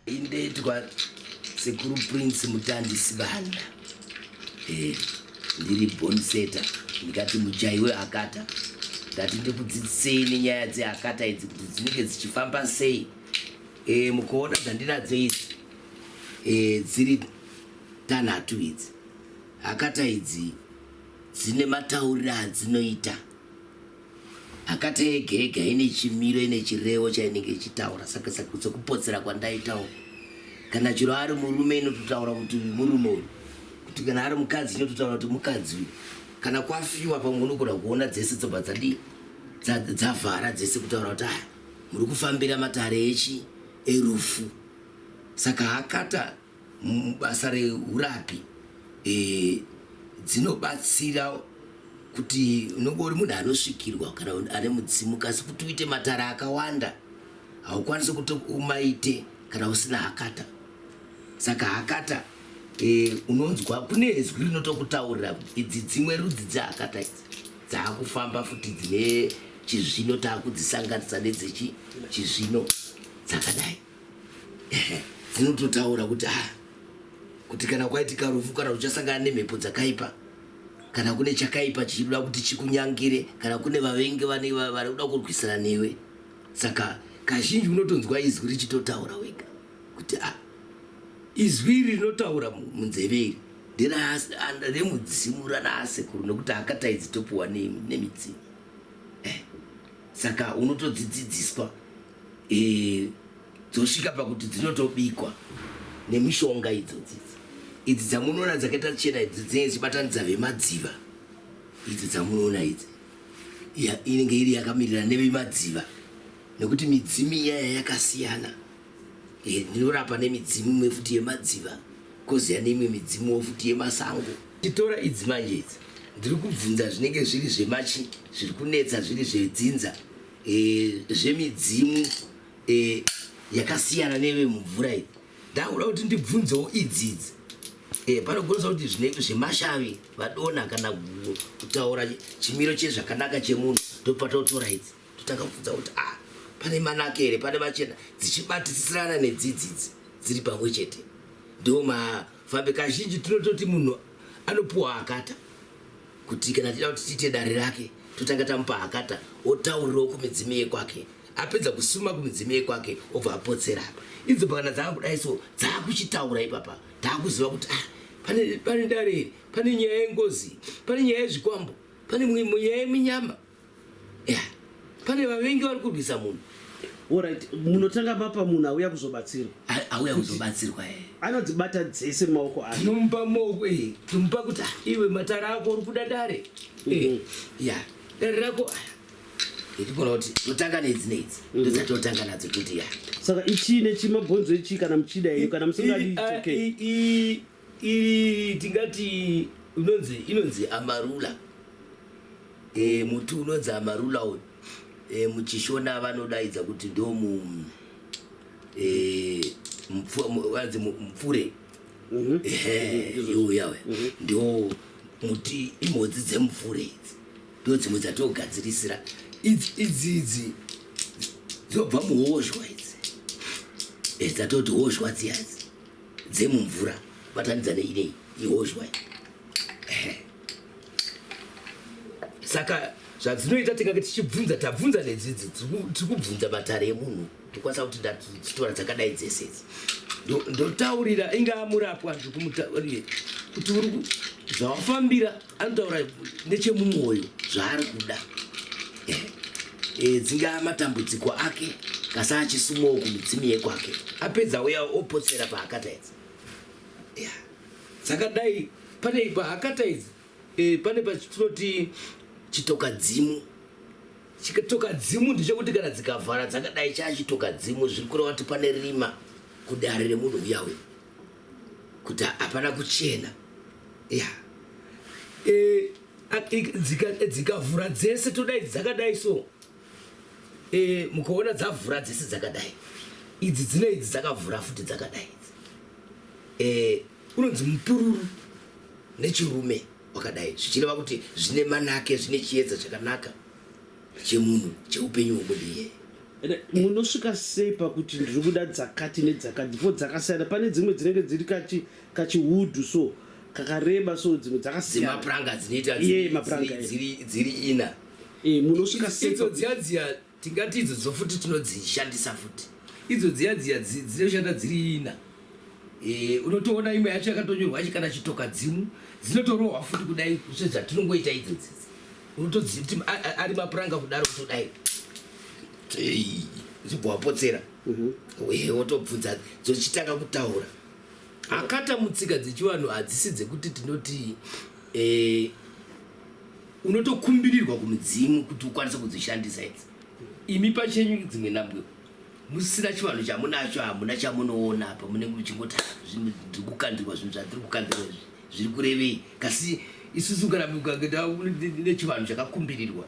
indeitwa sekuru prince mutandi sibanda eh, ndiri bonseta ndikati mujaiwe akata ndati ndikudzidzisei nenyaya dzeakata idzi kuti dzinenge dzichifamba sei e, mukuona dzandinadzo idzi e, dziri tanhatu idzi akata idzi dzine matauriro adzinoita akata ega ega ine chimiro ine chirevo chainenge ichitaura saka sekupotsera kwandaitawo kana chiro ari murume inototaura kuti murume uyu kuti kana ari mukadzi inototaura kuti mukadzi uyu kana kwafiwa pamwe unogona kuona dzese dzobva dzadii dzavhara dzese kutaura kuti aya muri kufambira matare echi erufu saka hakata basa reurapi e, dzinobatsira kuti unenge uri munhu anosvikirwa kana ane mudzimu kasi kuti uite matare akawanda haukwanisi kuti umaite kana usina hakata saka hakata e, unonzwa kune zwi rinotokutaurira idzi dzimwe rudzi dzehakata idzi Dzaakufamba futi dzine chizvino taakudzisanganisa nedzechi chizvino dzakadai dzinototaura kuti ah kuti kana kwaitika rufu kana uchasangana nemhepo dzakaipa kana kune chakaipa chichida kuti chikunyangire kana kune vavengi vane vari kuda kurwisana newe saka kazhinji unotonzwa izwi richitotaura wega kuti ah, izwi iri rinotaura munzeve iri nderemudzimu ranaasekuru nokuti akataidzi topiwa nemidzimu eh, saka unotodzidzidziswa eh, dzosvika pakuti dzinotobikwa nemishonga idzodzidzi idzi dzamunoona dzakaita chena idzi dzinenge dzichibatanidza vemadziva idzi dzamunoona idzi inenge iri yakamirira nevemadziva nekuti midzimu iyaya yakasiyana Eh, ndinorapa nemidzimu imwe futi yemadziva koziya neimwe midzimu wo futi yemasango titora idzi manje idzi ndiri kubvunza zvinenge zviri zvemachi zviri kunetsa zviri zvedzinza eh, zvemidzimu eh, yakasiyana neve mumvura iyi ndakuda kuti ndibvunzewo idzi idzi Eh, panogonesa kuti zvinenge zvemashavi vadona kana kutaura chimiro chezvakanaka chemunhu ndopatotora idzi Takabvunza kuti ah, pane manake here pane machena dzichibatisirana nedzidzidzi dziri pamwe chete ndiwo mafambe kazhinji tinototi munhu anopuwa akata kuti kana tida kuti tiite dare rake totanga tamupa akata otaurirawo kumidzimu yekwake apedza kusuma kumidzimu yekwake obva apotsera apa idzo pakana dzaakudai so dzaakuchitaura ipapa taakuziva kuti ah, pane dare iri pane nyaya yengozi pane nyaya yezvikwambo pane nyaya yeminyama pane vavengi vari kurwisa munhu orit munotanga mapa munhu auya kuzobatsirwa auya kuzobatsirwa e anodzibata dzese maoko a tinomupa maoko e tinomupa kuti ah, iwe matara ako uri kuda dare e mhm. ya dare rako ndikona kuti totanga nedzi nedzi mhm. ndosati totanga nadzo kuti ya saka ichii nechii mabhonzo echii kana muchida iyo kana musingadi Iri tingati unonzi inonzi amarula. Eh muti unonzi amarula uyu. Eh muchishona vanodaidza kuti ndomu eh mupfure mupfure. Mhm. Eh uyu yawe. Mhm. Ndo muti imhodzi dzemupfure idzi. Ndo dzimwe dzatogadzirisira idzi idzi idzi dzobva muhozhwa idzi. Eh dzatoti hozhwa dziya idzi. dzemumvura batanidza neidei ihozhwa saka zvadzinoita tingange tichibvunza tabvunza nedzidzi tiri kubvunza matare emunhu tikwanisa kuti ndatitora dzakadai dzese idzi ndotaurira ingaa murapwa ndikumuta kuti uri zvawafambira anotaura nechemumwoyo zvaari kuda e, eh, eh, dzingaa matambudziko ake kasa achisumawo kumidzimu yekwake apedza uya opotsera pahakata idzi yeah. saka dai pane pahakata idzi e, pane patinoti chitokadzimu chitokadzimu ndichekuti kana dzikavhara dzakadai chachitokadzimu zviri kureva kuti pane rima kudare remunhu uya uya kuti hapana kuchena yeah. e, dzikavhura dzika dzese todai dzakadai so e, mukaona dzavhura dzese dzakadai idzi dzine idzi dzakavhura futi dzakadai idzi e, unonzi mupururu nechirume wakadai zvichireva kuti zvine manake zvine chiedza chakanaka chemunhu cheupenyu hwomunhu iyeye munosvika sei pakuti ndiri kuda dzakati nedzakati before dzakasiyana pane dzimwe dzinenge dziri kachi kachiwudhu so kakareba so dzimwe dzakasiyanamapuranga dzinoitadziri ina eh, munosvika seidzo dziya dziya tingati idzo dzofuti tinodzishandisa futi idzo dziya dziya dzinoshanda dziri ina Eh, unotoona imwe yacho yakatonyorwa achi kana chitokadzimu dzinotorohwa futi kudai zve zvatinongoita idzo dzidzi unotodziva kuti ari mapuranga kudaro kutodai zibhowapotsera mhm. eh, wotobvunza dzochitanga kutaura akata mutsika dzechivanhu hadzisi dzekuti tinoti eh, unotokumbirirwa kumudzimu kuti ukwanise kudzishandisa idzi imi pachenyu dzimwe nambwewo musina chivanhu chamunacho hamuna chamunoona apa munenge muchingoti ah, zvinhu tiri kukandirwa zvinhu zvatiri kukandirwa izvi zviri kurevei kasi isusu kana nechivanhu chakakumbirirwa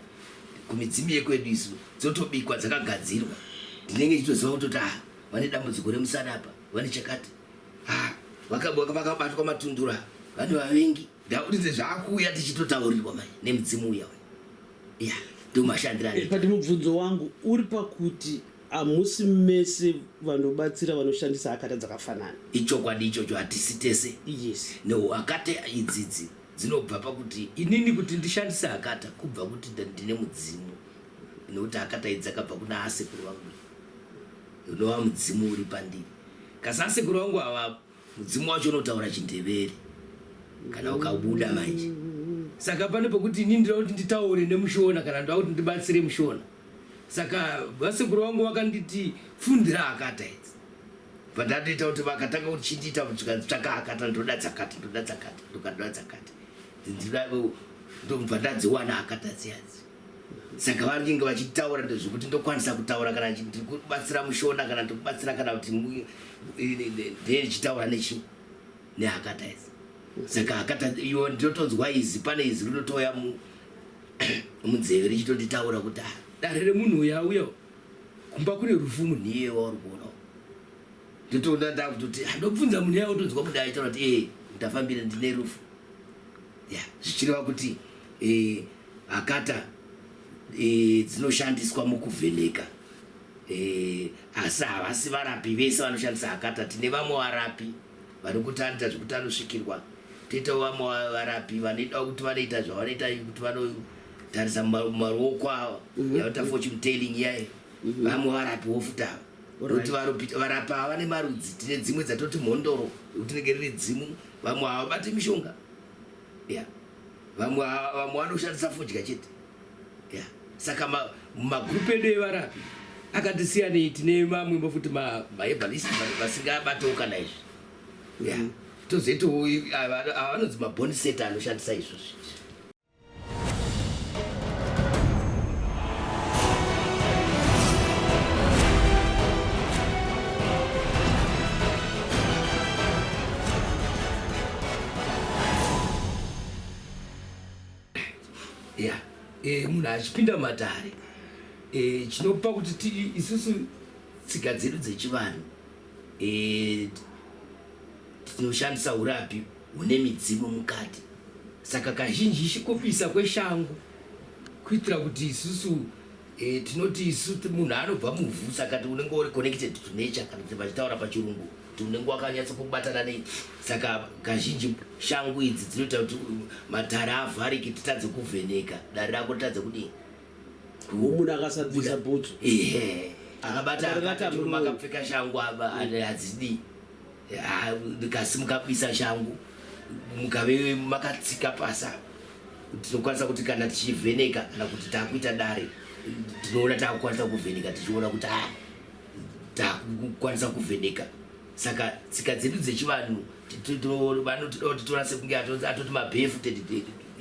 kumidzimu yekwedu isu dzotobikwa dzakagadzirwa ndinenge chitoziva kutoti ah, vane dambudziko remusana apa vane chakati ah, vakabatwa matundura vane vavengi Ndauridze zvakuuya tichitotaurirwa mai nemudzimu uya uya. Yeah, ndomashandira Eh, but mubvunzo wangu uri pakuti hamusi mese vanobatsira vanoshandisa hakata dzakafanana ichokwadi ichocho hatisi tese yes no hakata idzidzi dzinobva pakuti inini kuti ndishandise hakata kubva kuti nda- ndine mudzimu nokuti hakata idzi dzakabva kuna asekuru vangu unova mudzimu uri pandiri kasi asekuru vangu ava Mudzimu wacho unotaura chindevere kana ukabuda manje. Saka pane pokuti ini ndinoda kuti nditaure nemushona kana ndoda kuti ndibatsire mushona. Saka vasekuru vangu vakanditi fundira akata idzi. Pandatoita kuti vakatanga kuchindiita tsvaka akata ndoda dzakati ndoda dzakati ndoda dzakati. Ndibva ndadziwana akata dziyadzi. Saka vanenge vachitaura ndezvekuti ndokwanisa kutaura kana ndiri kubatsira mushona kana ndiri kubatsira kana kuti ndee ndichitaura nechi nehakata idzi saka hakata iwo ndinotonzwa izi pane izi rinotoya munzeve richitonditaura kuti ah, dare remunhu uyo auya kumba kune rufu munhu iye wauri kuonawo ndotoona ndakutoti handobvunza ah, munhu iye otonzwa kudai taura kuti ee eh, ndafambira ndine rufu Yeah, zvichireva kuti eh, hakata eh, dzinoshandiswa mukuvheneka eh, asi havasi varapi vese vanoshandisa hakata. Tine vamwe varapi vari kutandita zvekuti anosvikirwa toitawo vamwe varapi vanoidawo kuti vanoita zvavanoita kuti vanotarisa maruoko avo mhm. yavanoita fortune telling iyaye mhm. vamwe varapi wofutava kuti varapa vane marudzi tine dzimwe dzatoti mhondoro tinenge riri dzimu vamwe havabati mishonga yeah. vamwe vamwe vanoshandisa fodya chete yeah. saka magrupu edu evarapi akatisiyanei tine mamwimbo futi mahebalist vasingabatawo kana izvi yeah. Mm. tozoitawo avanonzi maboni seta anoshandisa izvozvi yeah. e, munhu achipinda matare e, chinopa kuti ti isusu tsika dzedu dzechivanhu e, tinoshandisa urapi hune midzimu mukati. Saka kazhinjishi kupisa kweshangu kuitira kuti isusu e, tinoti isu munhu anobva muvhu saka unenge uri connected to nature kana kuti vachitaura pachirungu kuti unenge wakanyatsa kubatana nei saka kazhinji shangu idzi dzinoita kuti matare avhariki titadze kuvheneka dare rako titadze kudii munhu akasabvisa bhutsu ehe akabata akapfeka shangu aba hadzidii Ah, ndikasimuka kuisa shangu mukave makatsika pasa tinokwanisa kuti kana tichivheneka kana kuti takuita dare tinoona takukwanisa kuvheneka tichiona kuti a ah, takukwanisa kuvheneka saka tsika dzedu dzechivanhu vanotoda kuti tiona sekunge atoti mabhefu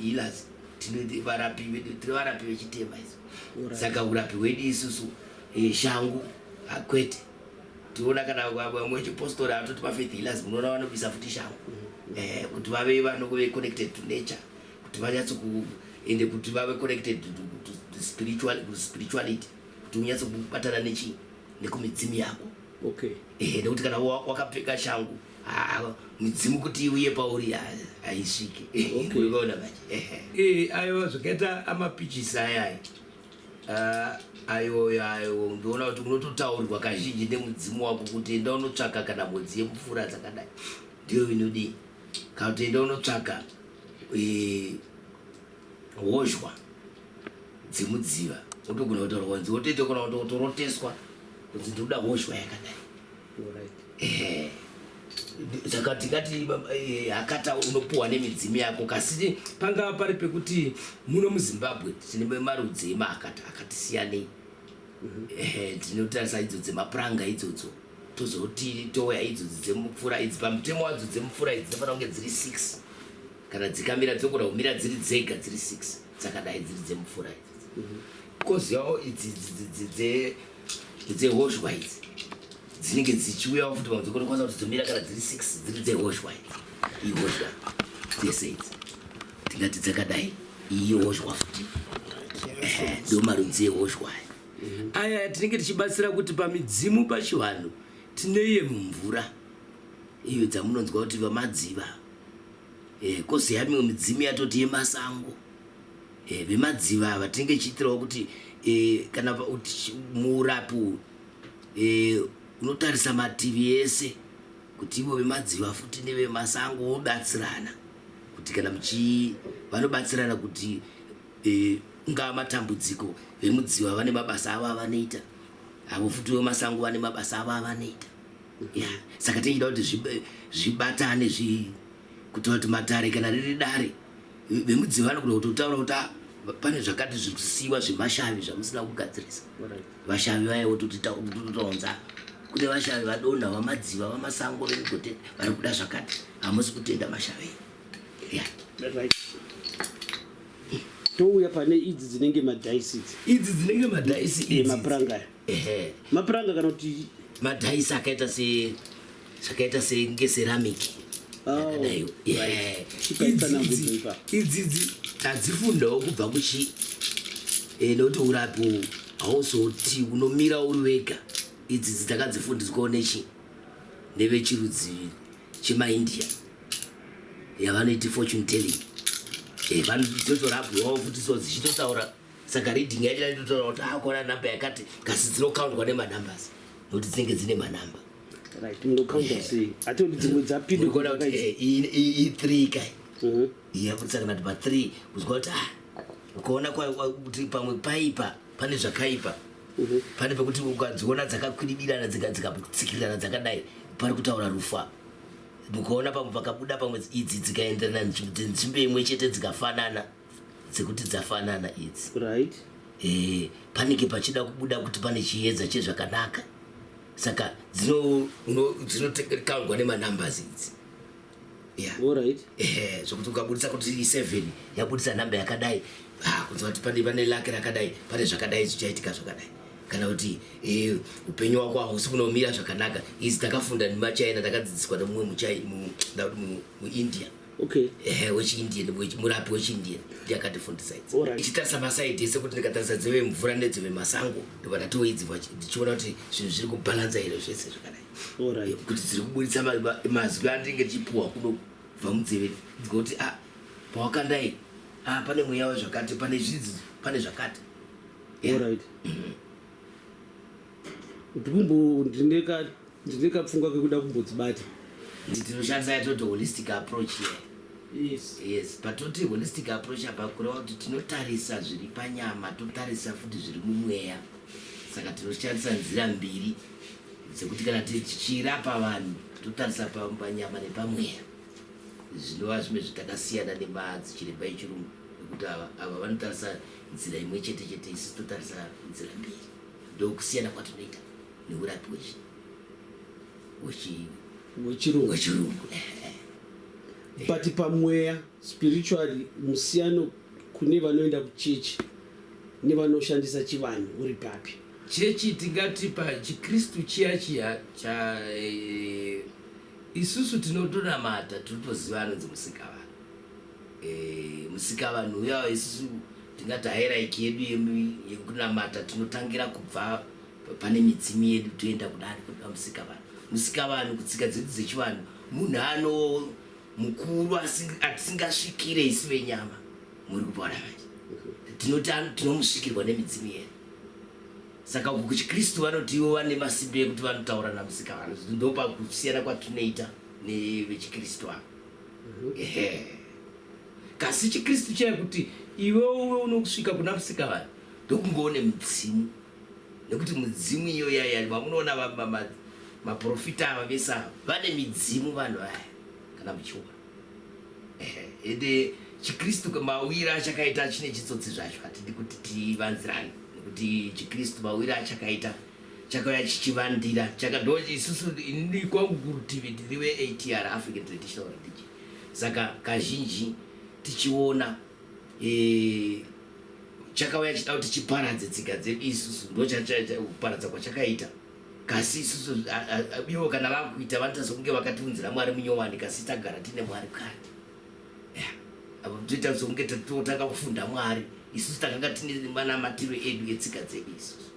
healers tinovarapi vechitema isu saka urapi hwedu isusu eh, shangu akwete ah, tiona kana vamwe vechipostori atoti mafaith healers munoona vanobisa futi shango mm. eh, kuti vave vanove connected to nature kuti vanyatso ende kuti vave connected to spirituality kuti unyatso kubatana nechii nekumidzimu yako okay. eh, nekuti kana wakapfeka shangu midzimu kuti uye pauri haisvike okay. ukaona manje eh, aiwa zvakaita amapichisi ayaya Uh, ayoyo ayo ndoona kuti unototaurirwa kazhinji nemudzimu wako kuti enda unotsvaka kana mhodzi yemupfuura dzakadai ndiyo inodii kana kuti enda unotsvaka e, hozhwa dzemudziva otogona kutaura kwanzi otoita kona kutoroteswa kunzi ndikuda hozhwa yakadai Eh, saka tingati eh, akata unopuwa nemidzimu yako kasi pangava pari pekuti muno muzimbabwe tine marudzi emaakata akati siyanei mhm. eh, tinotarisa idzo dzemapuranga idzodzo tozoti touya idzodzi dzemupfura idzi pamutemo wadzo dzemupfura idzi dzinofanira kunge dziri six kana dzikamira dzokona kumira dziri dzega dziri six dzakadai dziri dzemupfura idzi mhm. kozi yawo idzi dzehozhwa idzi dzinenge dzichiuyawo futi pamwe dzokonekwanisa kuti dzomira kana dziri six dziri dzehozhwa idzi ihozhwa dzese idzi tingati dzakadai iyi hozhwa futi ndo marudzi ehozhwa aya aya tinenge tichibatsira kuti pamidzimu pachivanhu tineye mumvura iyo dzamunonzwa kuti vamadziva eh, kosi yamimwe midzimu yatoti yemasango Eh vemadziva ava tinenge tichiitirawo kuti eh, kana muurapi uyu eh, unotarisa mativi ese kuti ivo vemadziva futi nevemasango vobatsirana kuti kana muchi vanobatsirana kuti eh, ungava matambudziko vemudziva vane mabasa avo avanoita avo futi vemasango vane mabasa avo avanoita yeah. saka tichida kuti zvibatane zvi, zvi kutaura kuti matare kana riri dare vemudziva vanogona kutotaura kuti ah, pane zvakati zviri kusiyiwa zvemashavi zvamusina kugadzirisa vashavi vaya votototaunza kune vashavi vadonha vamadziva vamasango vemigote vari kuda zvakati hamusi kutenda mashavi touya pane idzi dzinenge madaisi idzi dzinenge madaisi mapuranga aya mapuranga kana kuti madaisi akaita se zvakaita senge ceramic yakadaiwo oh, yeah. idzidzi tadzifundawo kubva kuchi eh, nokuti urapi hauzoti unomira uri wega idzidzi takadzifundiswawo nechi nevechirudzi chemaindia yavanoiti fortune telling eh, vanototorabwawo futi so dzichitotaura saka reading yacho yaitotaura kuti akona ah, number yakati kasi dzinokaundwa nemanumbers nokuti dzinenge dzine manumber right munokaunda Yeah. sei ati kuti dzimwe dzapinda Unoona kuti, eh, iyi- iyi iyi three kai Mhm. yabudisa kana kuti pa three kuzwa kuti ah ukaona kwa- kwa- kuti pamwe paipa pane zvakaipa Mhm. pane pekuti ukadziona dzakakwididirana dzika- dzikatsikirirana dzakadai pari kutaura rufu apa ukaona pamwe pakabuda pamwe idzi dzikaenderana nzvimbo nzvimbo imwe chete dzikafanana dzekuti dzafanana idzi right eh, panenge pachida kubuda kuti pane chiedza chezvakanaka saka dzinotekangwa nemanumbers idzi eh, zvokuti ukabudisa kuti i7 yabudisa number yakadai ah, kunzwa kuti pane pane lake rakadai pane zvakadai zvichaitika zvakadai kana kuti eh, upenyu wako hausi kunomira zvakanaka izi takafunda nemachina takadzidziswa nemumwe muindia okay ehe wechiindian wechi- murapi wechiindian ndiye akatifundisa idzi Alright. ichitarisa masaidi ese kuti ndikatarisa dzeve mvura nedzeve masango ndobva ndatiwo idzi vachi- ndichiona kuti zvinhu zviri kubhalansa here zvese zvakadai Alright. kuti dziri kuburitsa ma- ma- mazwi andinenge ndichipuwa kuno kubva munzeve dzikuti a pawakandai a pane mweya wezvakati pane zvidzi pane zvakati Yeah. Alright. ndikumbo ndine ka ndine kapfungwa kekuda kumbodzibata tinoshandisa yatoti holistic approach here yes yes patoti holistic approach apa kureva kuti tinotarisa zviri panyama totarisa futi zviri mumweya saka tinoshandisa nzira mbiri dzekuti kana tichirapa vanhu totarisa pa- panyama nepamweya zvinova zvimwe zvitakasiyana nemadzichiremba echirungu nekuti ava ava vanotarisa nzira imwe chete chete isu totarisa nzira mbiri ndokusiyana kwatinoita neurapi wechirungu but pamweya spiritually musiyano kune vanoenda kuchechi nevanoshandisa chivanhu uri papi chechi tingati pachikristu chiya chiya cha eh, isusu tinotonamata tinotoziva anonzi musikavanhu Eh, musikavanhu uya isusu tingati hairaiki yedu yekunamata tinotangira kubva pane midzimu yedu toenda kudari kuda musikavanhu musikavanhu kutsika dzedu dzechivanhu munhu ano mukuru asingasvikire isu venyama muri kupona manje tinoti tinomusvikirwa nemidzimu yedu saka uku kuchikristu vanoti ivo vane masimbe ekuti vanotaura namusikavanhu ndopakusiyana kwatinoita nevechikristu ava kasi chikristu chaya kuti iwe uve unokusvika kuna musika vanhu ndokungoone mudzimu nekuti mudzimu iyo yaya vamunoona maprofita ava vese ava vane midzimu vanhu vaya kana muchiona ende chikristu mawira achakaita chine chitsotsi zvacho hatidi kuti tivanzirane nekuti chikristu mawira achakaita chakauya chichivandira chakadoo isusu ini kwangu kurutivi ndiri veATR African Traditional Religion saka kazhinji tichiona e, chakauya chida kuti chiparadze tsika dzedu isusu ndokuparadza kwachakaita kasi isusu ivo kana vakuita vanoita sokunge vakatiunzira mwari munyowani kasi tagara tine mwari kare avo toita sokunge totanga kufunda mwari isusu takanga tine manamatiro edu etsika dzedu isusu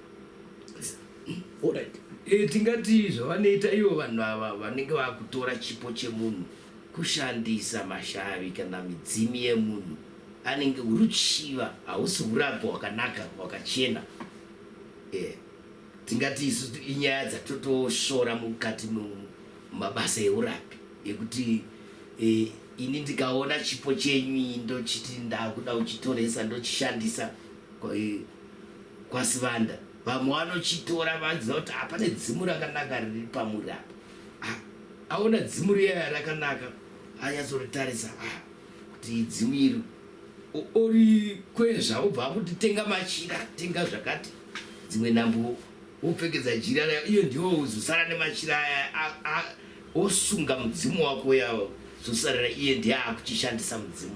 Alright. E, tingati zvavanoita ivo vanhu ava vanenge vakutora chipo chemunhu kushandisa mashavi kana midzimu yemunhu anenge uruchiva hausi urabho hwakanaka hwakachena e, tingati isu inyaya dzatotosvora mukati mumabasa eurapi ekuti e, ini ndikaona chipo chenyu ndochiti ndakuda uchitoresa ndochishandisa kwaSivanda vamwe vanochitora vanziva kuti apa nedzimu rakanaka riri pamuri apa ah, aona dzimu riya rakanaka anyatsoritarisa ah, kuti idzimu iri ori kwezva obva akuti tenga machira tenga zvakati dzimwe nhambo wopfekedza jira rayo iyo ndiwo uzosara nemachira aya wosunga mudzimu wako yawo zosarira iye ndiye akuchishandisa mudzimu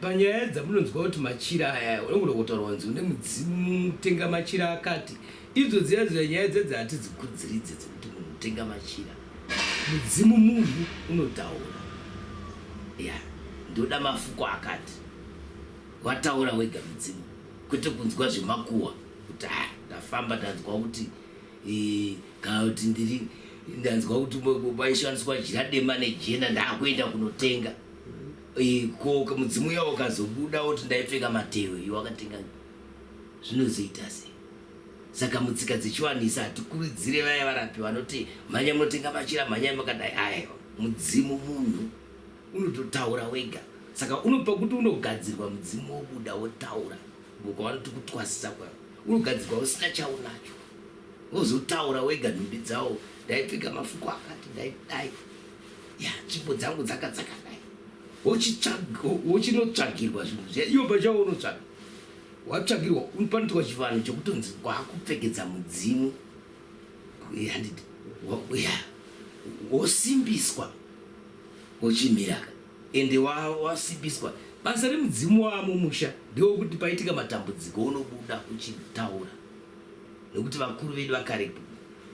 Panyaya dzamunonzwa kuti machira aya unogona kutaura kunzi une mudzimu tenga machira akati idzo dziya dziya nyaya dzedzi hatidzikudziridze dzekuti munhu tenga machira mudzimu munhu unotaura ya ndoda mafuko akati wataura wega mudzimu kwete kunzwa zvemakuwa kuti ha ndafamba ndanzwa kuti e, kana kuti ndiri ndanzwa kuti paishandiswa jira dema nejena ndakuenda kunotenga Eh, ko ka- mudzimu uya ukazobuda woti ndaipfeka matehwe iwe wakatenga zvinozoita sei saka mutsika dzechiwanisa hatikurudzire vaya varapi vanoti mhanya munotenga machira mhanyai makadai aiwa mudzimu munhu unototaura wega saka unopa kuti unogadzirwa mudzimu wobuda wotaura boka vanoti kutwasisa kwavo unogadzirwa usina chaunacho wozotaura wega nhumbi dzawo ndaipfeka mafuko akati ndaidai ya tsvimbo dzangu dzaka dzakadai wochinotsvagirwa zvinhu zviya iwo pachawo unotsvaga watsvagirwa panoitwa chivanhu chekutonzi wakupfekedza mudzimu wosimbiswa wochimiraka ende wasimbiswa basa remudzimu wamo musha ndiwo kuti paitika matambudziko unobuda uchitaura nekuti vakuru vedu vakarepo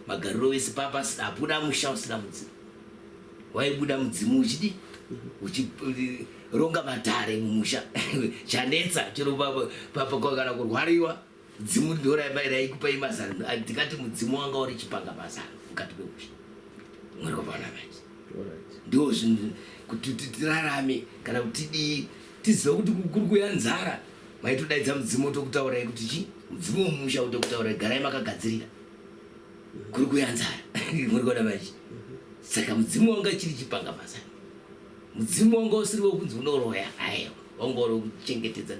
Magariro vese papa asina hapuna musha usina mudzimu. Waibuda mudzimu uchidi uchironga matare mumusha chanetsa chero papa kwakana kurwariwa dzimu ndiwo raikupa imazano ndikati mudzimu wanga uri chipanga mazano mukati memusha mwari wavana manje ndiwo zvinhu kuti tirarame kana kuti tidii tiziva kuti kuri kuya nzara maitodaidza mudzimu otokutaurai kuti chii mudzimu wemumusha utokutaurai garai makagadzirira kuri kuya nzara muri kuona manje saka mudzimu wanga chiri chipanga basa mudzimu wanga usiri wekunzi unoroya ayo wanga uri kuchengetedza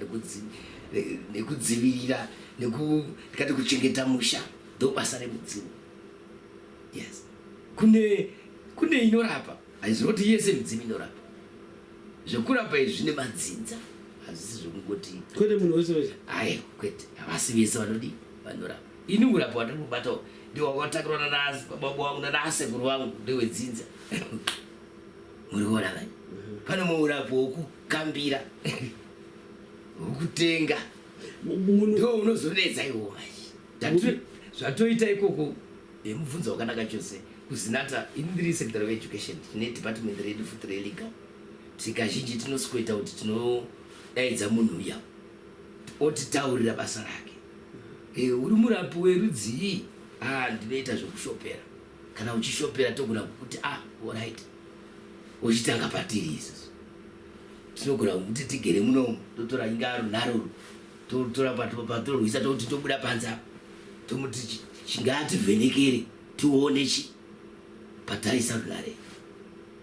nekudzivirira nekati kuchengeta musha ndobasa remudzimu yes kune kune inorapa hazvinoti yese midzimu inorapa zvekurapa izvi zvine madzinza hazvisi zvekungoti kwete munhu wese wese ayo kwete havasi vese vanodii vanorapa Ini urapa hwandiri kubata uhu ndihwakatakurwa nanababa wangu nanasekuru wangu ndewedzinza muriona kani pane mumwe urapi wokukambira wokutenga ndo unozonetsa iwo manje zvatoita ikoko yemubvunzo wakanaka chose kuzinata ini ndiri secretary of education tine department redu futi relegal tsika zhinji tinosikoita kuti tinodaidza munhu uya otitaurira basa rake eh, uri murapi werudzii ah, ndinoita zvekushopera kana uchishopera togona kukuti ah, orit uchitanga patiri isusu tinogona kukuti tigere munomu totora inga runaruru totora patorwisa tokuti tobuda panze apo tomuti chingativhenekere tione chi patarisa runare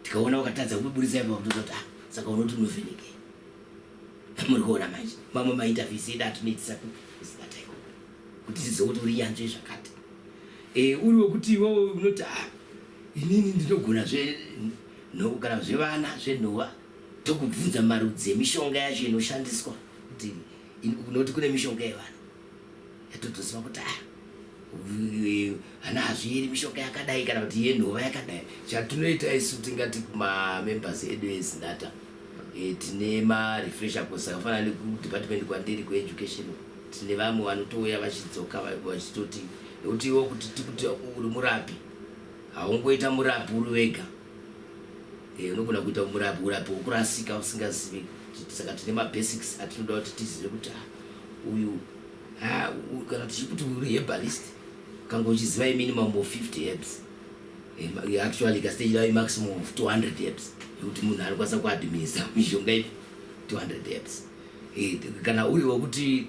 tikaona wakatadza kuburitsa ipa kutozoti ah, saka unoti unovhenekere muri kuona manje mamwe mainterviews edu atinoitisa kuzibata iko kuti tizive kuti uri nyanzvi zvakati e, uri wekuti iwewe unoti ah, inini ndinogona zve kana zvevana zvenhova tokubvunza marudzi emishonga yacho inoshandiswa kuti unoti kune mishonga yevana yatotoziva kuti ah, hana hazvieri mishonga yakadai kana kuti yenhova yakadai chatinoita isu tingati kumamembers edu ezinata eh, tine marefresher course akafanana nekudepartment kwandiri kueducation tine vamwe vanotouya vachidzoka vachitoti nekuti iwo kuti tikuti uri murapi haungoita murapi uri wega Eh, unogona kuita umurapi urapi hwokurasika usingazive saka tine mabasics atinoda kuti tizive kuti ah, uyu ah, kana tichikuti uyu uri hebalist kanga uchiziva iminimum of 50 hebs eh, eh, actually ikasitechida imaximum of 200 hebs yekuti munhu anokwanisa kuadminisa mishonga ipi 200 hebs kana uri wekuti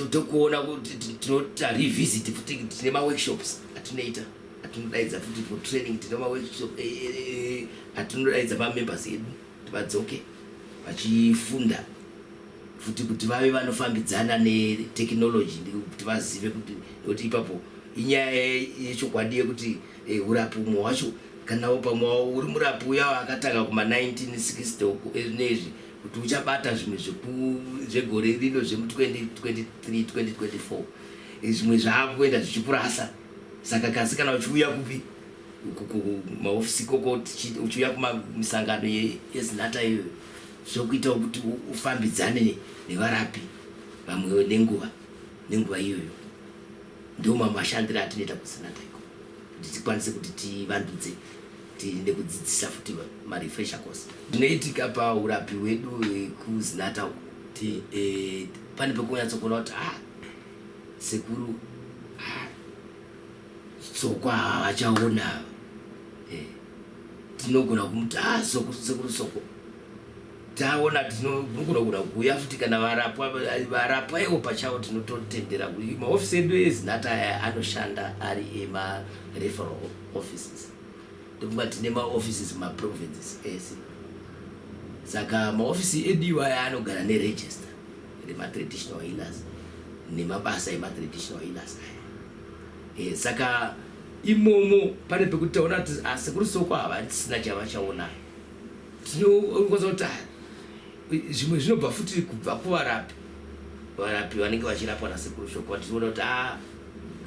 tokuona kuti tinoita revisit futi tine maworkshops atinoita atinodaidza futi for training tine maworkshop eh, eh, eh, atinodaidza pamembers edu kuti vadzoke vachifunda futi kuti vave vanofambidzana netechnology kuti vazive kuti nekuti ipapo inyaya yechokwadi yekuti urapi umwe wacho kanawo pamwe uri murapi uya akatanga kuma 1960 uku nezvi kuti uchabata zvimwe zvegore rino zvemu 2023 2024 zvimwe zvaakuenda zvichikurasa saka kasi kana uchiuya kupi kumahofisi koko uchiuya kumisangano yezinata iyoyo zvokuitawo kuti ufambidzane nevarapi vamwewo nenguva nenguva iyoyo ndo mamwe mashandiro atinoita kuzinata iko kuti tikwanise kuti tivandudze tiende kudzidzisa futi marefresher course ndinoitika paurapi wedu wekuzinata uku kuti eh, pane pekunyatsokuona kuti ah Sekuru Soko ava vachaona ava. Eh, tinogona kumuti ah Soko Sekuru Soko. Taona tinogona kuda kuuya futi kana varapwa varapwa ivo pachavo tinototendera kuti maofisi edu ezinata aya anoshanda ari ema referral offices. Ndofunga tine maoffices mumaprovinces ese. Saka maofisi edu iwayo anogara neregister. rematraditional healers nemabasa ematraditional healers aya e, saka imomo pane pekuti taona kuti ah, sekuru soko hava tisina chavachaona tinokwanisa kuti ah, zvimwe zvinobva futi kubva kuvarapi varapi vanenge vachirapwa nasekuru soko vationa kuti ah,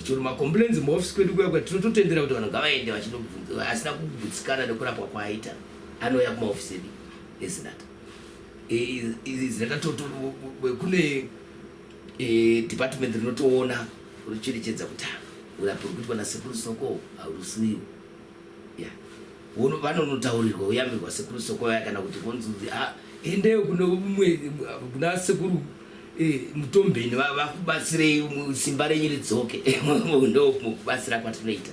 chero macomplains muofisi kwedu kuya kwati tinototendera kuti vanhu ngavaende vachinobvunza asina kugutsikana nekurapwa kwaaita anouya kumaofisi edu ezinata Izi kune department rinotoona rocherechedza kuti urapi rwekuitwa nasekuru soko haurusiriwo vanonotaurirwa uyambirwa sekuru soko vaya kana kuti vonzunzi ah, endeyo kuna sekuru eh, mutombeni vakubatsirei simba renyu ridzoke ndokubatsira kwatinoita